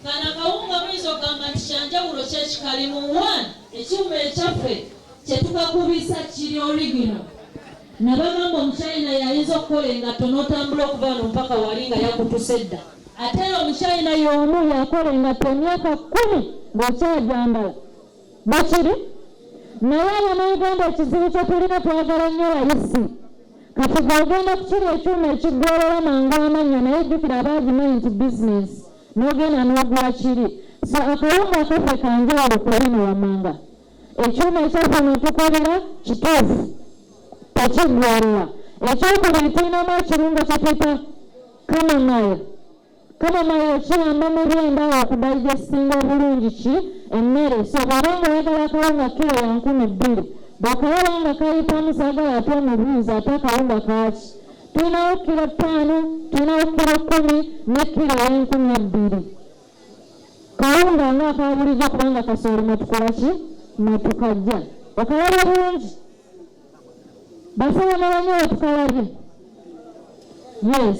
Kano akawunga muyinza okugamba nti kyanjawulo ki ekikalimu? One, ekyuma ekyaffe kye tukakubisa kiri origino. Nabagamba omuchina y'ayinza okukola engatto n'otambula okuva wano mpaka wali nga yakutuse dda. Ate era omuchina y'omu yakola engatto emyaka kkumi ng'okyagyambala. Bwekiri. Naye Abanauganda ekizibu kye tulina twagala nnyo layisi. Kati gwe ogenda kukiri ekyuma ekiggweerera mangu amannya naye jjukira abaagimanyi nti bizinensi. n'ogenda n'ogula kiri so akawunga akaffe kanjawulo ku bino wammanga ekyuma ekyaffe netukolera kituufu tekiggwalira ekyokubiri tulinamu ekirungo kyetuyita kamamayo kamamayo kiyamba mu byenda okudayigestinga obulungi ki emmere so bwaba nga oyagala akawunga kiro ya nkumi bbiri bwekawaba nga kayitamu sagala ate omubuuzi ate akawunga kaaki tulinawo kilo ttaano tulinawo kilo kkumi ne kilo eyenkumi ebbiri kawunga nga akabulijo kubanga kasooli mwetukola ki mwetukajja okalaba bulungi basobola banyo wetukalabye yes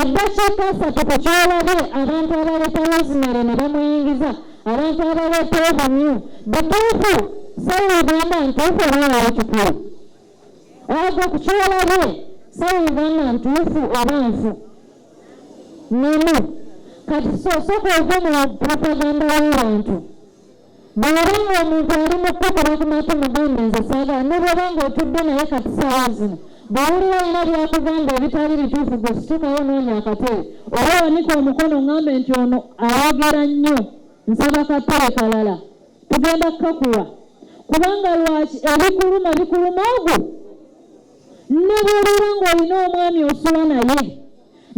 eddakiika asatu ku kyolabye abantu abaleeta rosemary ne bamuyingiza abantu abaleeta obumyu butuufu sawugamba ntuufu obawa ekikulu ago ku kyolabye sawugamba ntuufu oba nfu nemu kati sosoka ova mu propaganda w'abantu bw'oba ng'omuntu ali mu kukuba ku matama gamba nze saagala ne bw'oba ng'otudde naye kati ssaawa zino bw'owulira alina byakugamba ebitali bituufu gwe situkawo noonya akatebe oba wanika omukono ŋambe nti ono ayogera nnyo nsaba katebe kalala tugenda kukakuwa kubanga lwaki ebikuluma bikuluma ogwo ne bw'obeera ng'olina omwami osula naye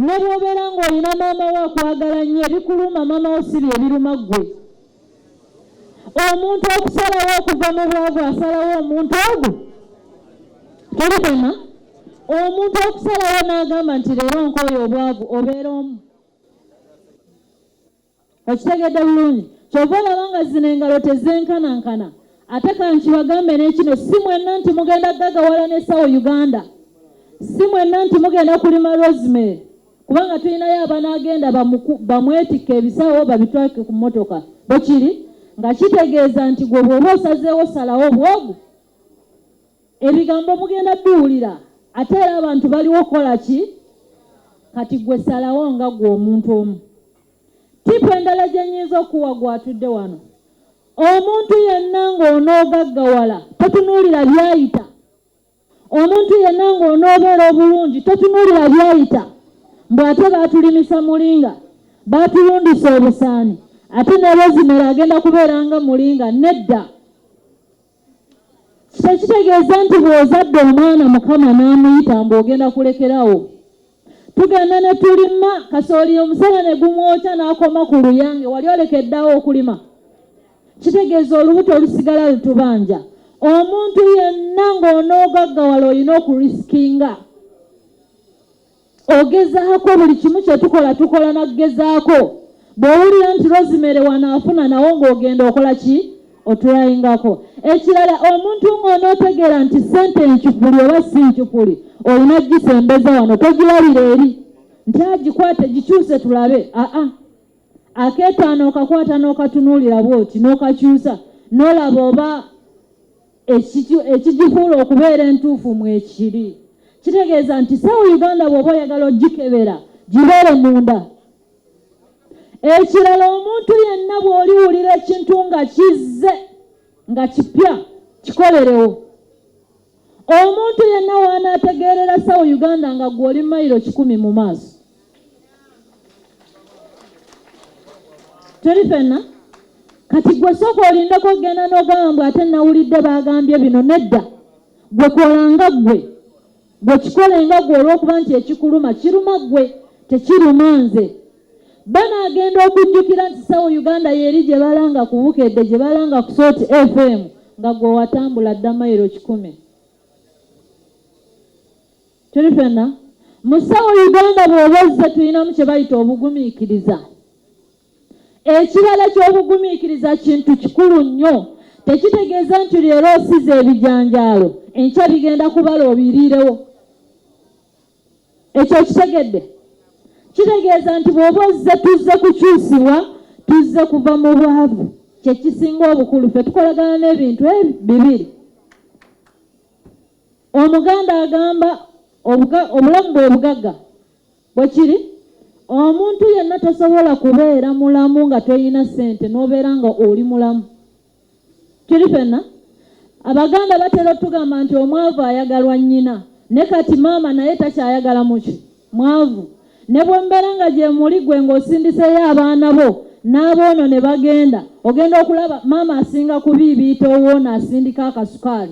ne bw'obeera ng'olina maama wo akwagala nnyo ebikuluma maama wo si bye biruma ggwe omuntu okusalawo okuva mu bwavu asalawo omuntu ogwo tulikoma omuntu okusalawo n'agamba nti leero nkooyo obwavu obeera omu okitegedde bulungi kyova olaba nga zino engalo tezenkanankana ate kankibagambe n'ekino si mwenna nti mugenda gagawala n'essawo uganda si mwenna nti mugenda kulima rosemary kubanga tulinayo abanaagenda bamwetikke ebisawo babitwalike ku mmotoka bwe kiri nga kitegeeza nti gwe bw'oba osazeewo salawo obwogu ebigambo mugenda biwulira ate era abantu baliwo okukola ki kati gwe salawo nga gwe omuntu omu tipu endala gye nyinza okuwa gwatudde wano omuntu yenna ng'onoogaggawala totunuulira byayita Omuntu yenna ng'onoobeera obulungi totunuulira byayita mbu ate baatulimisa mulinga, baatulundisa obusaani ate ne Rosemary agenda kubeera nga mulinga nedda. Tekitegeeza nti bw'ozadde omwana Mukama n'amuyita mbu ogenda kulekerawo. tugenda ne tulima kasooli omusana ne gumwokya n'akoma ku luyange wali olekeddawo okulima kitegeeza olubuto olusigala lutubanja omuntu yenna ng'onoogaggawala olina okurisikinga ogezaako buli kimu kye tukola tukola nakugezaako bw'owulira nti rosimere wanaafuna nawo ng'ogenda okola ki otulaingako ekirala omuntu ng'onootegeera nti ssente enkifuli oba si nkifuli olina gisembeza wano togiwalira eri nti agikwate gikyuse tulabe aa akeetaano okakwata n'okatunuulira bwoti n'okakyusa n'olaba oba ekigifuula okubeera entuufu mwekiri kitegeeza nti sawa uganda bw'oba oyagala ogikebera gibeere munda ekirala omuntu yenna bw'oliwulira ekintu nga kizze nga kipya kikolerewo omuntu yenna waanaategeerera sawo uganda nga gwe oli mayiro kikumi mu maaso tuli fenna kati gwe sooka olindeko okugenda n'ogamba mbw ate nawulidde baagambye bino nedda gwe kolanga ggwe Gwe kikole nga gwe olw'okuba nti ekikuluma kiruma gwe tekiruma nze. Bano agenda okujjukira nti sawo Uganda yeri gye balanga ku Bukedde gye balanga ku Salt FM nga gwe watambula dda mayiro kikumi. Tuli fenna mu sawo Uganda bw'oba ozze tulinamu kye bayita obugumiikiriza. Ekirala ky'obugumiikiriza kintu kikulu nnyo. Tekitegeeza nti leero osize ebijanjaalo enkya bigenda kubala obiriirewo. Ekyo okitegedde? Kitegeeza nti bw'oba ozze tuzze kukyusibwa, tuzze kuva mu bwavu. Kye kisinga obukulu. Ffe tukolagana n'ebintu ebyo bibiri. Omuganda agamba obulamu bwe bugagga Bwe kiri. Omuntu yenna tosobola kubeera mulamu nga toyina sente nobeera nga oli mulamu. Kiri fenna. Abaganda batera otugamba nti omwavu ayagalwa nnyina. Ne kati maama naye takyayagala muki? Mwavu. Ne bwembeera nga gyemuli gwe nga osindiseeyo abaana bo n'aboono ne bagenda, ogenda okulaba maama asinga kubiibiita owoono asindika akasukaali.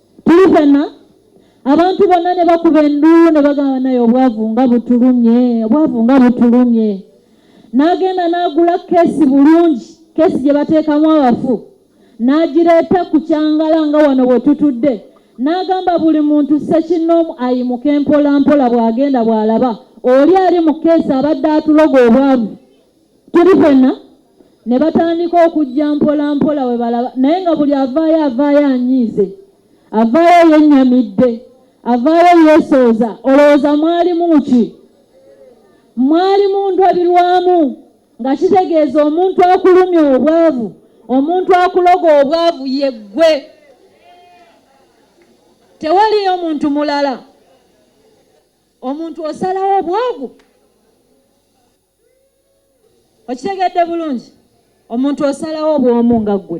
tuli fenna abantu bonna ne bakuba enduulu ne bagamba naye obwavu nga butulumye obwavu nga butulumye n'agenda n'agula keesi bulungi keesi gye bateekamu abafu n'agireeta ku kyangala nga wano bwe tutudde n'agamba buli muntu sekinnoomu ayimuke mpola mpola bw'agenda bw'alaba oli ali mu keesi abadde atuloga obwavu Tuli fenna ne batandika okujja mpola mpola we balaba naye nga buli avaayo avaayo anyiize avaayo yennyamidde avaayo yeesooza olowooza mwalimu ki mwali mu ndabirwamu nga kitegeeza omuntu akulumya obwavu omuntu akuloga obwavu yeggwe tewaliyo muntu mulala omuntu osalawo obwavu okitegedde bulungi omuntu osalawo obwomu nga ggwe